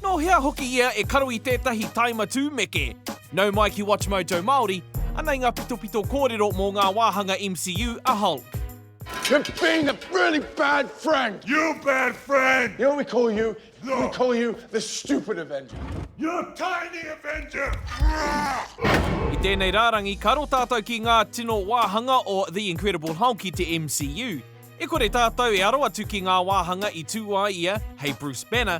Nō hea hoki ia e karo i tētahi tae matū meke? Nau mai ki WatchMojo Māori, anei ngā pitopito kōrero mō ngā wāhanga MCU a Hulk. You're being a really bad friend! You bad friend! You know what we call you? No! We call you the stupid Avenger! You're a tiny Avenger! I tēnei rārangi, ka aro tātou ki ngā tino wāhanga o The Incredible Hulk i te MCU. E kore tātou e aro atu ki ngā wāhanga i tū ai ia hei Bruce Banner,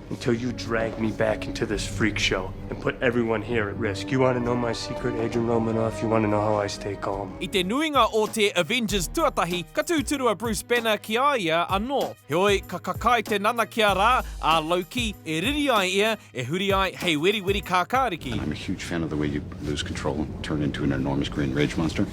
Until you drag me back into this freak show and put everyone here at risk. You want to know my secret, Adrian Romanoff? You want to know how I stay calm? I te nuinga o te Avengers tuatahi, ka tūturu a Bruce Banner ki a ia anō. Heoi, ka kakae te nanakia rā a Loki e riri ai ia, e huri ai hei weriweri kākāriki. And I'm a huge fan of the way you lose control and turn into an enormous green rage monster.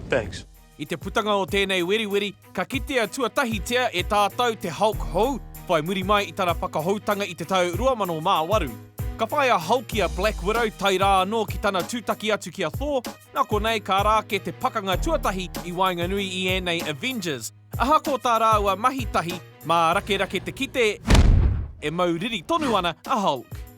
Thanks. I te putanga o tēnei weriweri, ka kitea tuatahitia e tātau te Hulk hou, whai muri mai i tana whakahoutanga i te tau 2008. Ka whai a Hulk i a Black Widow tae rā anō ki tana tūtaki atu ki a Thor, nā konei ka ara ake te pakanga tuatahi i waenganui i ēnei Avengers. Ahakoa tā rāua mahi tahi, mā rakerake te kite e mau riri tonu ana a Hulk.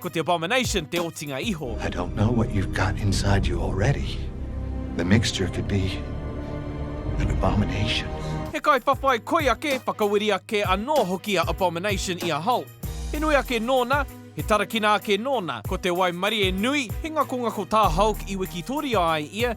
Ko te abomination te otinga iho. I don't know what you've got inside you already. The mixture could be an abomination. He kaiwhawhai koi ake, whakawiri ake anō hoki a Abomination i a Hulk. He nui ake nōna, he tarakina ake nōna, ko te waimarie nui, he ngakongako tā Hulk i wikitoria ai ia,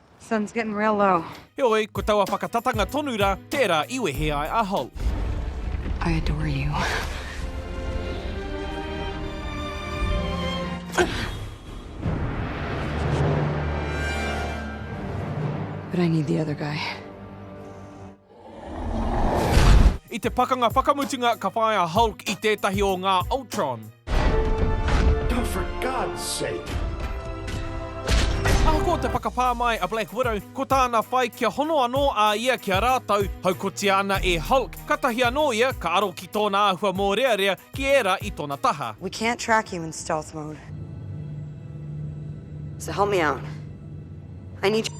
Sun's getting real low. Heoi, ko taua whakatatanga tonu rā, tērā i wehe ai a Holly. I adore you. But I need the other guy. I te pakanga whakamutunga ka whāia a Hulk i tētahi o ngā Ultron. Oh, for God's sake! Ahakoa te whakapā mai a Black Widow, ko tāna whai kia hono anō a ia ki a rātou, haukotia ana e Hulk, katahi anō ia ka aro ki tōna āhua mōrearea ki ērā i tona taha. We can't track you in stealth mode. So help me out. I need your.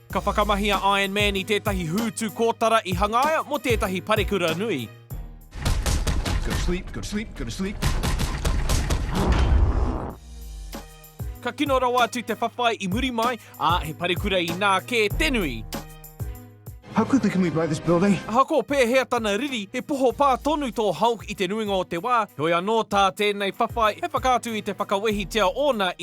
Ka whakamahi a Iron Man i tētahi hūtu kōtara i hangaia mō tētahi parekura nui. Ka kino rawa atu te whawhai i muri mai, ā, he parekura inā kē te nui. Ahakoa pēhea tana riri, he poho pā tonu tō Hulk i te nuinga o te wā, heoi anō tā tēnei whawhai he whakaatu i te whakawehitia ōna i.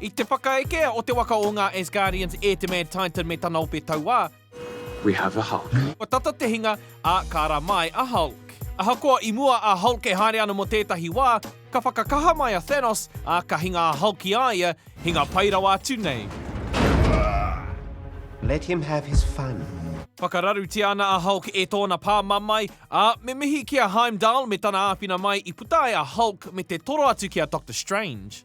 I te whakaeke o te waka o ngā Asgardians e te Mad Titan me tana ope tauā, We have a Hulk. Kua tata te hinga, ā, ka ra mai a Hulk. Ahakoa i mua a Hulk e haere ana mō tētahi wā, ka whakakaha mai a Thanos, ā, ka hinga a Hulk i a ia, hinga pai rawa atu nei. Let him have his fun. Whakararutia ana a Hulk e tōna pā mamae, ā, me mihi ki a Heimdall me tana āwhina mai i puta ai a Hulk me te toro atu ki a Doctor Strange.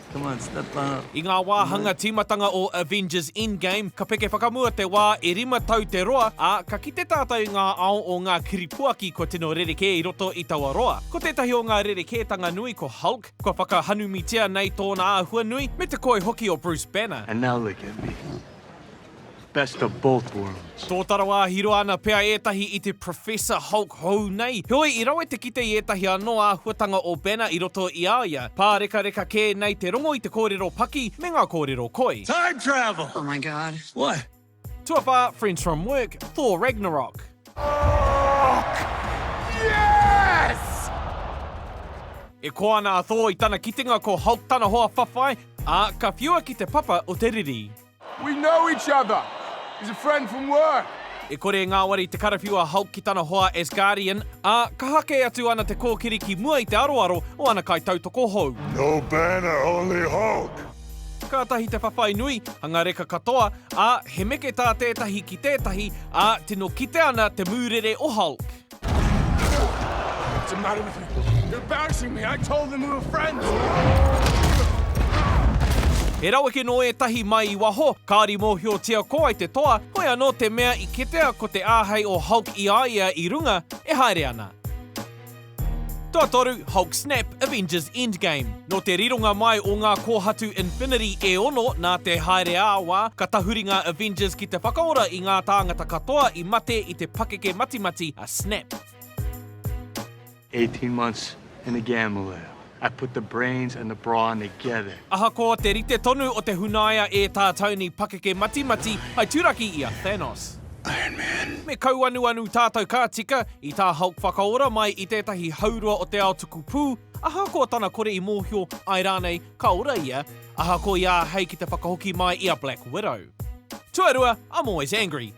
Come on, step up. I ngā wāhanga tīmatanga o Avengers Endgame, ka peke whakamua te wā e rima tau te roa, ā, ka kite tātou i ngā ao o ngā kiripuaki kua tino rerekē i roto i taua roa. Ko tētahi o ngā rerekētanga nui ko Hulk, kua whakahanumitia nei tōna āhua nui, me te koi hoki o Bruce Banner. And now look at me. Best of both worlds. Tōtara wāhi roa ana pea ētahi i te Professor Hulk hou nei. Heoi, i rawe te kite i ētahi anō āhuatanga o Banner i roto i a ia, pārekareka kē nei te rongo i te kōrero paki me ngā kōrero koi. Time travel! Oh my god. What? Tuawhā, Friends from Work, Thor Ragnarok. Hulk! Yes! E koa ana a Thor i tana kitenga ko Hulk tana hoa whawhai, ā, ka whiua ki te papa o te riri. We know each other, he's a friend from work. E kore e ngāwari te karawhiu a Hulk ki tana hoa as Guardian, ā, kaha kē atu ana te kōkiri ki mua i te aroaro o ana kaitautoko hou. No Banner, only Hulk! Kātahi te whawhai nui, hanga reka katoa, ā, he meke tā tētahi ki tētahi, ā, tino kite ana te mūrere o Hulk. What's the matter with you? You're embarrassing me. I told them we were friends. He raweke nō ētahi mai i waho, kāri mōhiotia ko wai te toa, hoi anō te mea i kitea ko te āhei o Hulk i a ia i runga, e haere ana. Tuatoru, Hulk Snap, Avengers Endgame. Nō te rironga mai o ngā kōhatu Infinity e ono nā te haere ā-wā, ka tahuri ngā Avengers ki te whakaora i ngā tāngata katoa i Mate i te pakeke matimati a Snap. Eighteen months in the gamma lab. I put the brains and the brawn together. Ahakoa te rite tonu o te hunaia e tā Tony pakeke matimati, hai turaki i a Thanos. Iron Man. Me kauanuanu tātou ka tika i tā Hulk whakaora mai i tētahi haurua o te ao tuku pū, ahakoa tana kore i mōhio, āe rānei, ka ora ia, ahakoa i āhei ki te whakahoki mai i a Black Widow. Tuarua, I'm always angry.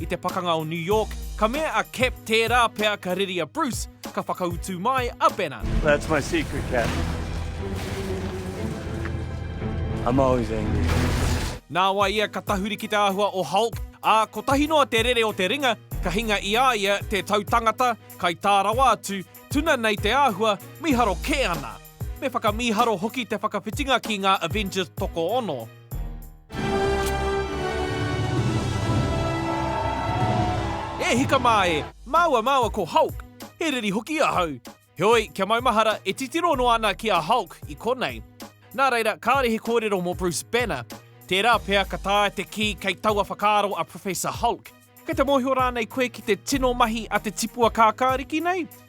I te pakanga o New York, ka mea a Cap tērā pea ka reri a Bruce, ka whakautu mai a Banner. That's my secret, Cap. I'm always angry. Nāwai ia ka tahuri ki te āhua o Hulk, ā, kotahi noa te rere o te ringa, ka hinga i a ia te tautangata, kai tā rawa atu, tuna nei te āhua, mīharo kē ana! Me whakamīharo hoki te whakawhitinga ki ngā Avengers tokoono. E hika mā e! Māua māua ko Hulk! He riri hoki ahau! Heoi, kia maumahara, e titiro noa ana ki a Hulk i konei. Nā reira, kāore he kōrero mō Bruce Banner. Tērā pea ka taea te kī kei taua whakaaro a Professor Hulk. Kei te mōhio rānei koe ki te tino mahi a te tipua kākāriki nei?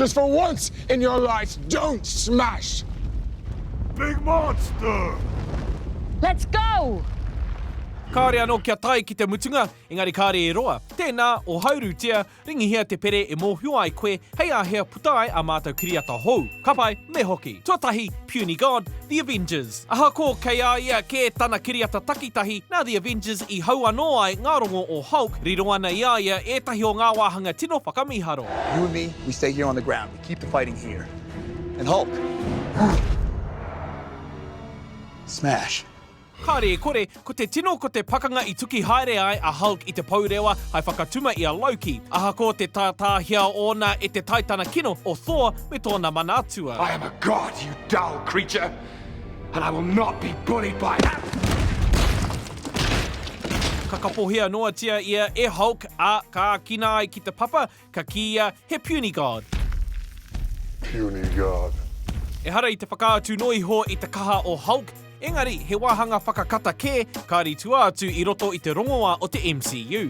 Just for once in your life, don't smash! Big monster! Let's go! Kāre anō kia tae ki te mutunga, engari kāre e roa. Tēnā, ohaurutia, Ringihia te pere e mōhio ai koe hei a hea puta ai a mātou kiriata hou. Ka pai, me hoki. Tuatahi, Puny God, The Avengers. Ahakoa kei a ia kē tana kiriata takitahi, nā The Avengers i hau anō ai ngā rongo o Hulk, riro ana i a ia ētahi o ngā wāhanga tino whakamīharo. You and me, we stay here on the ground, we keep the fighting here. And Hulk. Smash. Kāre i kore, ko te tino ko te pakanga i tuki haere ai a Hulk i te pourewa hai whakatuma i a Loki. Ahakoa te tātāhia ōna e te taitana kino o Thor me tōna mana atua. I am a god, you dull creature, and I will not be bullied by that! Ka kapohia noatia ia e Hulk, ā, ka ākina ai ki te papa, ka kīia he puny god. Puny god. Ehara i te whakaatu noa iho i te kaha o Hulk, engari he wāhanga whakakata kē, ka ritua atu i roto i te rongoā o te MCU.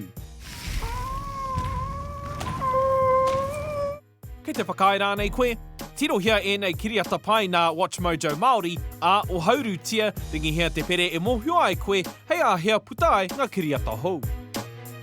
Kei te whakaae rānei koe? Tirohia ēnei kiriata pai nā WatchMojo Māori, ā, ohaurutia, ringihia te pere e mōhio ai koe hei āhea puta ai ngā kiriata hou.